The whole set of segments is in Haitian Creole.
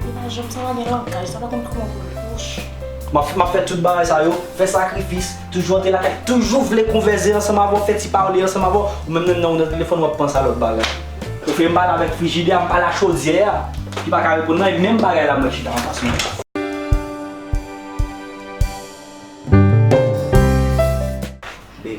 Li pa janm sa pa gen langaj, sa pa konn kouman pou l bouch. Map fè tout bagay sa yo, fè sakrifis, toujou antre lakay, toujou vle konvèze ansanm avè w, fè ti pale ansanm avè w, ou menm nan nan ou nan telefòn wap panse a lòt bagay. Ou vle m pale avèk frijidè a, m pale a chodyè a ki pa ka reponn mwen, e menm bagay la mwen chita anfas mwen. Babe.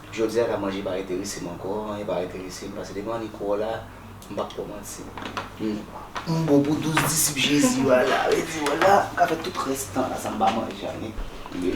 Jodia la manje pa enteresem ankò anyen pa enteresem pase depi an iko la m pap kòmanse m bon pou 12 disip jezi yo ala rete wè la m ka fè tout rès tan la san m pa manje anyen wi.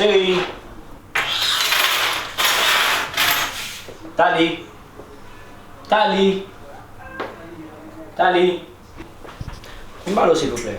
Cheri Tali Tali Tali Yon ba lo silvouplè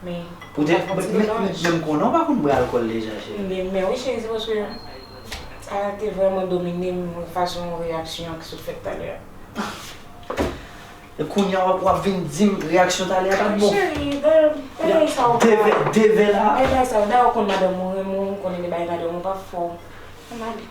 Men, ou pa konn ti detaj. Men m konnen ou pa konn bwè alkòl deja cheri. M gen men wi cheri se paske sa te vrèman domine m fason reyaksyon an ki sot fèt talè a. E kounye a w ap vin di m reyaksyon talè a pa t bon? Cheri, bagay sa yo pa. Deve, deve la. Bagay sa yo, dayè ou konn madanm ou renmen w, ou konnen de bagay madanm ou pa fè w. An ale.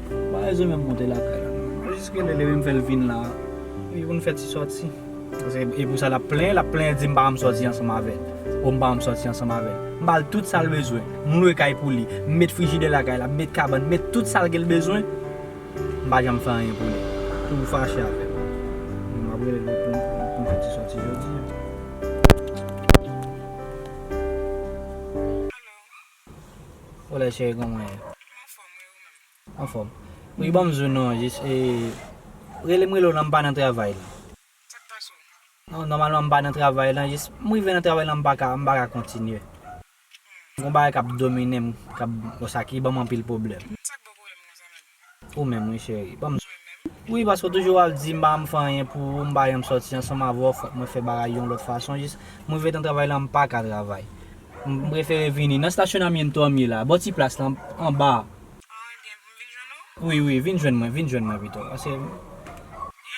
Ba Elzo menm monte lakay la non. Mwen jis relel epi m fèl vin la epi pou n fè ti sòti. Paske e pou sa lap plenyen, lap plenyen di m pa banm sòti ansanm avèl. O m pa banm sòti ansanm avèl. M bal tout sa l bezwen. M lwe kay pou li. M met frijidè lakay la, m met kabann, m met tout sa l gen l bezwen. M pa janm fè anyen pou li. Toujou fache avèm. Bon map relel pou pou n fè ti sòti jodi an. Ou la cheri kòman ou ye? Mwen anfòm wi ou menm? Anfòm. Wi banm zou non an jis e relem rele w lan m pa nan travay lan. Sak pase w? Non nòmalman m pa nan travay lan jis m rive nan travay lan m pa ka m pa ka kontinye. Gon bagay kap dominem kap bon sa ki banm anpil pwoblèm. Sak baw pwoblèm konsa menm? Ou menm wi cheri, banm jwe menm. Wi paske ou toujou ap dim pa janm fè anyen pou ou, m pa janm sòti ansanm avè w fòk mwen fè bagay yon lòt fason jis m rive nan travay lan m paka travay m prefere vini nan stasyonamyento an m ye la bò ti plas lan anba a. Ah ebyen pou m vin jwenn ou? Wi wi vin jwenn mwen vin jwenn mwen pito paske m. Men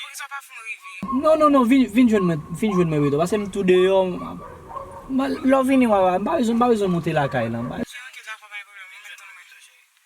poukisa w pa fè w rive? Non non non vin vin jwenn mwen vin jwenn mwen pito paske m tou deyò m lè w vini w a m pa bezwen m pa bezwen moute lakay lan. Ok ok dakò pa gen pwoblèm mwen mèt tann mwen.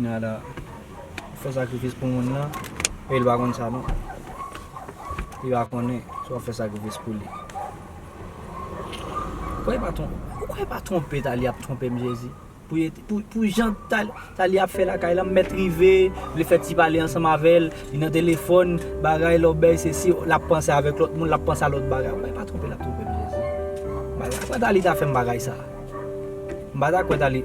Nada fè sakrifis pou moun nan e li pa konn sa non. Li pa konnen si wap fè sakrifis pou li. Ou kwè pa ton, ou kwè pa twonpe Talie ap twonpe m Jezi. Pou ye, pou jan Talie ap fè lakay lan m mèt rive, vle fè ti pale ansanm avè l, li nan telefòn, bagay lòbèy se si, lap panse avèk lòt moun, lap panse a lòt bagay. Ou kwè pa twonpe l ap twonpe m Jezi. M pa ta kwè Talie ta fè m bagay sa. M pa ta kwè Talie.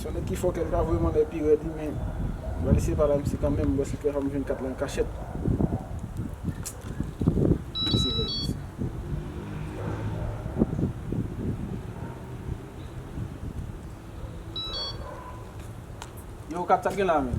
Son nèg ki fò kèl pa vreman lè pi rèd wi men Bwa li se pa la misye kanmenm lòske fè fanm jwenn kat la an kachèt. Misye rèd mesye. Yow kat sak gen la menm.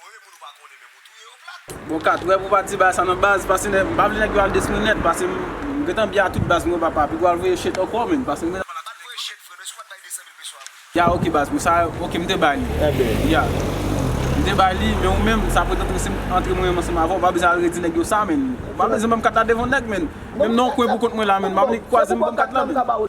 Voye moun ou pa konnen menm ou touye yo plat. Bon 4 wè pou pa di bagay sa nan baz pase nèg m pa vle nèg yo al detwi m nèt pase m gentan byen a tout baz m wè papa piga w al voye chet ankò menm pase m gentan pale a tout nèg yo menm. Ya ok baz m sa ok m te bay li ya m te bay li men ou menm sa pwete antre si m antre mwen menm ansanm avè w m pa bezwen al redi nèg yo sa menn m pa bezwen ban m kat la devan nèg menn menm nan yon kwen pou kont mwen la menn m pa vle kwaze m ban m kat la menn.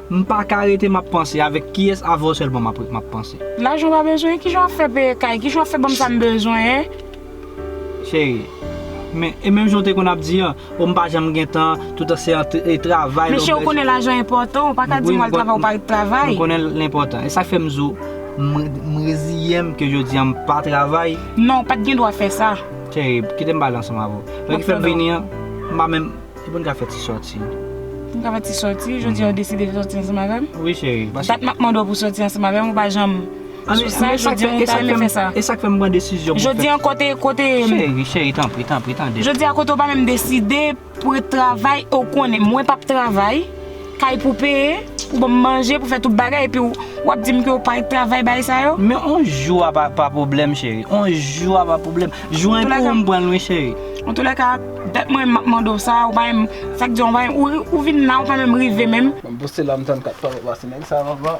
M paka rete map panse avèk kiyès avèw sèlman map ret map panse. Lajan ou pa bezwen kijan wap fè peye kay kijan wap fè banm sam bezwen. Cheri. Men e menm jan ou te konn ap di an oh m pa janm gen tan toutan se antre travay lè ou. Mesye ou konnen lajan enpòtan ou paka dim wal travay ou pa ret travay. M konnen l enpòtan esak fèm di w m reziyem ke jodi an m pa travay. Non ou pat gen dwa fè sa. Cheri kitem pale ansanm avèw lè ki fèm vini an m pa menm. Epi n ka fè ti sòti. N ka fè ti sòti. Jodi a ou deside fè sòti ansanm avè m? Wi cheri. Dat m ap mande w pou sòti ansanm avè m ou pa janm sou sa. Jodi a ou ta renmen fè sa. E sa k fè m pran desizyon pou fè. Jodi a kote, kote. Cheri, cheri tanpri, tanpri tande m. Jodi a kote ou pa menm deside pou ret travay e ou konnen mwen p ap travay. Kay pou peye, pou banm manje, pou fè tout bagay epi wap dim ke ou pa ret travay bagay sa yo? Men on jou a pa pwoblèm cheri. On jou a pa pwoblèm. Jou a epi ou'm pran'l wi cheri. An tou lè ka, dat mwen map mande w sa, ou pa menm, sak di an ou pa menm, ou vin la ou pa menm rive menm. Banm poste la m tann 4 pa m wè pa se nèg sa m ap ba.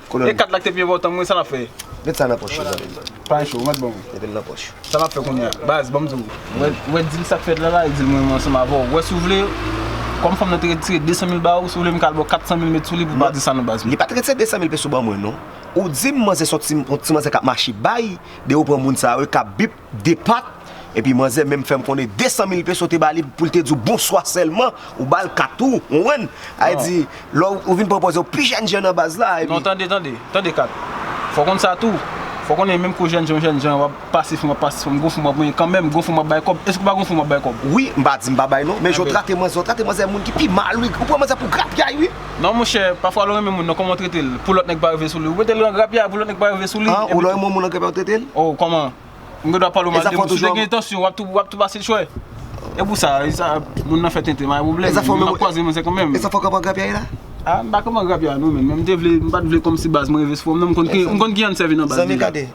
Kolòn. E kat la ki te pi enpòtan mwen sa nap fè? Met sa nan pòch yo zanmim. Pa cho, ou mèt banm. Metel nan pòch. Sa nap fè kounya? Baz banm diw. Ou wè dil sak fèt la la e dil mwen ansanm avèw. Ou wè si ou vle Kòm fanm nan te retire 200 mil ba ou, si ou vle m kal baw 400 mil met sou li pou pa di sa non baz. Li pat retire 200 mil peso ban mwen non. Ou dim manzè son ti yon ti manzè kap mache bay de ou pran moun sa yo e kap bip 2 pat, epi manzè menm fèm konnen 200 mil peso te ba li pou l te di w bonswa sèlman, ou ba l kat ou, konprann? Sa vle di, lè ou vin pran pòz yo, pi jèn jan nan baz la, epi. Non tande, tande, tande kat, fò w konn sa tou, fò w konnen menm kou jèn jan w jèn jan, w ap pase fanm, w ap pase fanm, gon fanm w ap manyen kanmenm, gon fanm w ap bay kòb, èske ou pa gon fanm w ap bay kòb? Wi, m pa di m pa bay non, men jan w trate manzè, w trate manzè moun ki pi mal wi, ou pran manzè pou grapyay wi. Non monchè, pafwa lè w renmen moun nan kòman w trete l pou lòt nèg pa rive sou li? Ou mete l nan grapyay pou lòt nèg pa rive sou li? Han, ou lè w renmen yon moun nan grapyay ou trete l? Oh kòman? M gen dwa pale w mal de moun? Si w te gen entansyon wap tou wap tou pase l chwè? E pou sa, e sa moun nan fè tenten m pa gen pwoblèm, men map kwaze moun se kon menm. E sa fè w kanpe an grapyay la? Ah, m pa kanpe an grapyay non menm, men m te vle, m pat vle kòmsi baz mwen rive sou fòm nan, m konn ki, m konn ki jan n sèvi nan baz deja. Zanmi gade,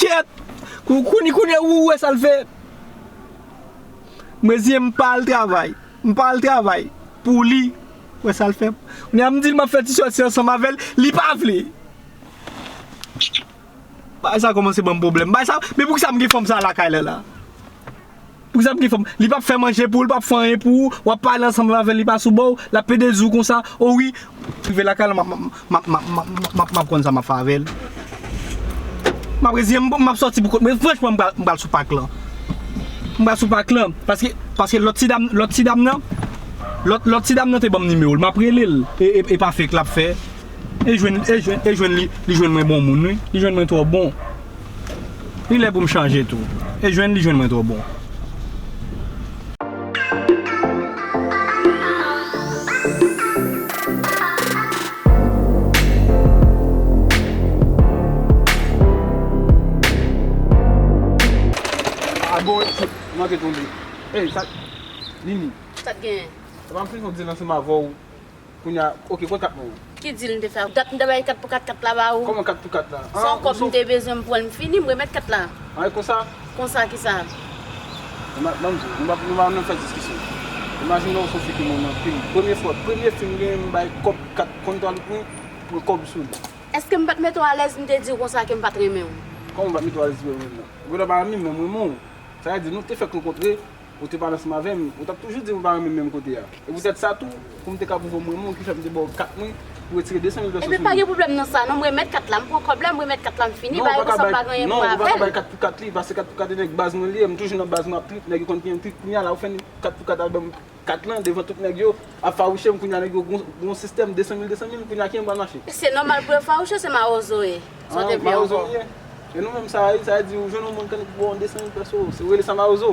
Kyèt! Kounye ou wè sa l fè? Mwen di m pa al travay. M pa al travay pou li. Ou wè sa l fè? Kounye a m di l m ap fè ti sòti ansanm avè l, li pa vle. Bagay sa a kòmanse ban m pwoblèm. Men poukisa m gen fanm sa a lakay la la? Poukisa ap gen fanm? Li pap fè manje pou ou, li pap fè anyen pou ou, wap pale ansanm avèl li pa sou baw, lap pede diw konsa, o wi, rive lakay la map map map map konn sa map fè avèl, map reziyenm bon map sòti pou kont mwen, franchman m pral sou pak lan, m pral sou pak lan, paske paske lòt ti dam lòt ti dam nan, lòt lòt ti dam nan te banm nimewo l map relel e pa fek lap fè, e jwenn e jwenn e jwenn li jwenn mwen bon moun wi, li jwenn mwen twò bon. Li lè pou m chanje tou. E jwenn li jwenn mwen twò bon. Kounye a, ok kote kat mwen an? Ki deal m te fè ak ou? Dat m te bay 4 pou 4, 4 la ba ou. Kòman 4 pou 4 la? Se yon kòb m te bezwen m pran l m fini m remèt 4 la. Ah e konsa? Konsa kisa? Ban m di w, nou pa nou pa menm fè diskisyon. Imajine w se yon fi ki moun anpil. Premye fwa, premye fi m genyen m bay kòb 4 konn twa dout mwen, pran kòb sou li. Eske m pa t mete w alèz m te di w konsa ke m pa t renmen w? Kòman m pa t mete w alèz di w m renmen w? Ou gentan pa renmen m men m renmen w. Sa vle di nou te fèk rankontre. Ou te pale ansanm avè m, ou t ap toujou di m ou pa renmen m menm kote a. E poutèt sa tou, pou m te ka pwouve ou m renmen w ki fè m te ba w kat mwen pou retire 200 mil vèso sou li. Epi pa gen pwoblèm nan sa non, m remèt kat la, m pran kòb la, m remèt kat la, m fini bagay konsa m pa gen anyen pou m wè avè l. Non, ou pa ka bay kat pou kat li, pase kat pou kat e nèg baz mwen li ye, m toujou nan baz mwen ap trip, nèg yo konn piyem trip, kounye a la ou fè kat pou kat al ban m kat lan devan tout nèg yo, ap fawouche m, kounye a nèg yo gen yon sistèm 200 mil 200 mil, kounye a kijan m pral mache? Se nòmal pou yo fawouche w, se mawozo w ye. Sot epi ankò. E nou menm sa a ye, sa a di ou jwenn yon moun kannik bò 200 mil peso, se ou rele sa mawozo.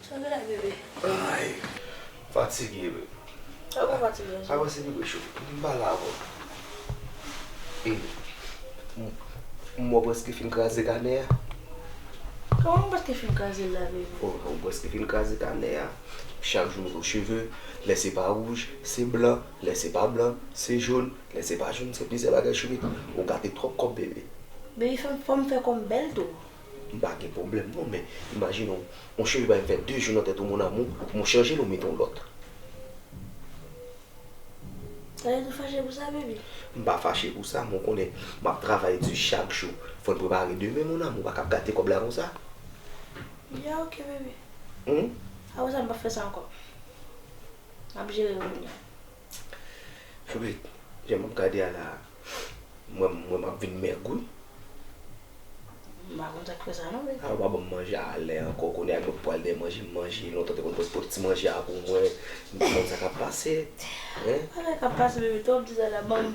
Chante la bebe. Ay. Fatige wi. Ou pa fatige anso. Avanse bebe chou. M pa la avèw. M wè w preske fin kraze kanè a. Kòman m preske fin kraze l la bebe? Ou wè w preske fin kraze kanè a. Chak jou nouvo cheve. Lè se pa wouj, se blan. Lè se pa blan, se jòn. Lè se pa jòn, se plizyè bagay chourit. Ou gate twòp kòb bebe. Bebe fè m fò m fè kò m bèl tou. M pa gen pwoblèm non men imajine w yon cheve bay m fè 2 jou nan tèt ou mon amour pou mwen chanje l ou mete yon lòt. Sa vle di w fache pou sa baby? M pa fache pou sa men w konnen m ap travay di chak jou fò n prepare demen mon amour pa ka ap gate kòb la konsa. Ya ok baby. Aprè sa m pap fè sa ankò. M ap jere l kounya. Anmweyy jan map gade a la m wè m wèm ap vin mèg wi. M pa konn sak fè sa non beti. Aw pa banm manje a lè ankò kounye a mwen pou al dèyè manje m manje lontan te konn pot pot ti manje a pou mwen m pa konn sa kap pase hein. Sa kap pase bebe twòp di sa la banm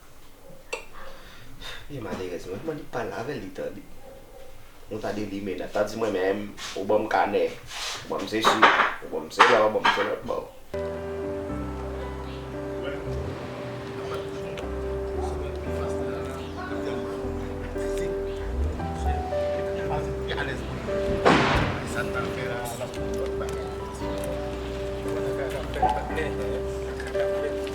Li malerèz mwen mwen li pale avèl li tande Nou ta de limena ta di mwen menm ou banm kanè ou banm sesi ou banm sela ou banm selòt bon Mwen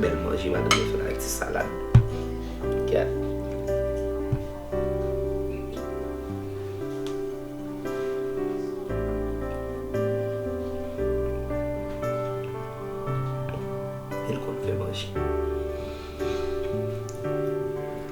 Bel manje madanm nan fè la ak ti salad. Gad. El konn fè manje.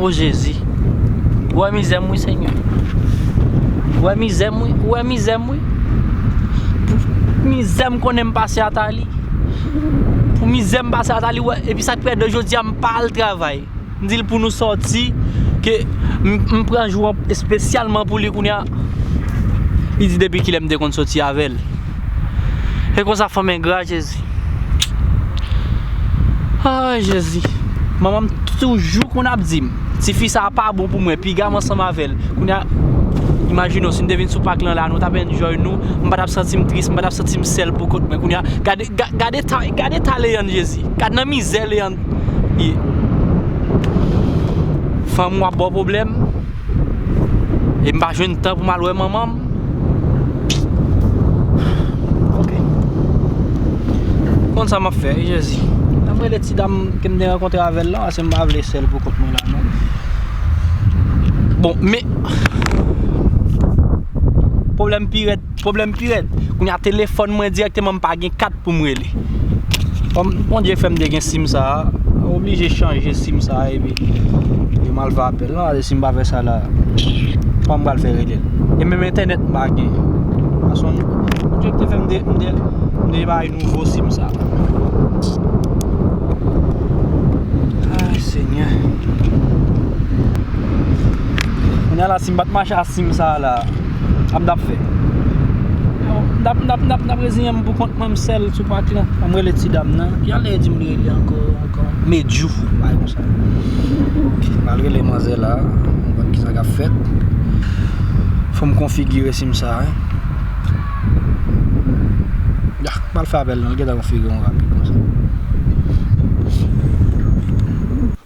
Oh Jezi, ou wè mizè m wi Senyè, ou wè mizè m wi, ou wè mizè m wi Pou mizè m konnen m pase ata li Pou mizè m pase ata li, ou wè, epi sa k fè de jodi a m pa al travay M dil pou nou sòti ke m pran jou an espesyalman pou li kounya li di depi kilè m te konn sòti avèl e konsa fanm engra jezi aah jezi manman m toujou konn ap dim tifi sa pa bon pou mwen piga m ansanm avèl kounya imajine w si m te vin sou pak lan la nou ta p enjoy nou m pa tap santi m tris m pa tap santi m sèl pou kont mwen kounya gade. Gade ta leyann jezi. Gad nan mizè leyann ye. Fanm ou ap baw pwoblèm. E m pa jwenn tan pou m al wè manman m. Konn sa map fè jezi. An m rele ti dam ke m te rankontre avèl lan paske m pa vle sèl pou kont mwen la non. Bon men Pwoblèm pi rèd. Pwoblèm pi rèd, kounye a telefòn mwen dirèkteman m pa gen kat pou m rele. Kòm Bondye fè m te gen sim sa a, m oblije chanje sim sa a epi yo m al fè apèl lan. Gade si m pa fè sa la, kòman m pral fè rele l? E menm entènèt m pa gen. Gason, Bondye ki te fè m te, m te, m te bay nouvo sim sa a. Ay Senyè! Kounye a la si m pa t mache ak sim sa a la. Ap dap fè. Dap dap dap dap reziyen m pou kont mwen m sèl sou pak lan. An m rele ti dam nan. Ki jan lè e di m li rele ankò ankò? Medjou. Yon bagay konsa. Ok. M al rele manzè la. M konn kisa k ap fèt. Fò m konfigire sim sa. Yah. M pral fè apèl non. Li gentan konfigire m rapid konsa.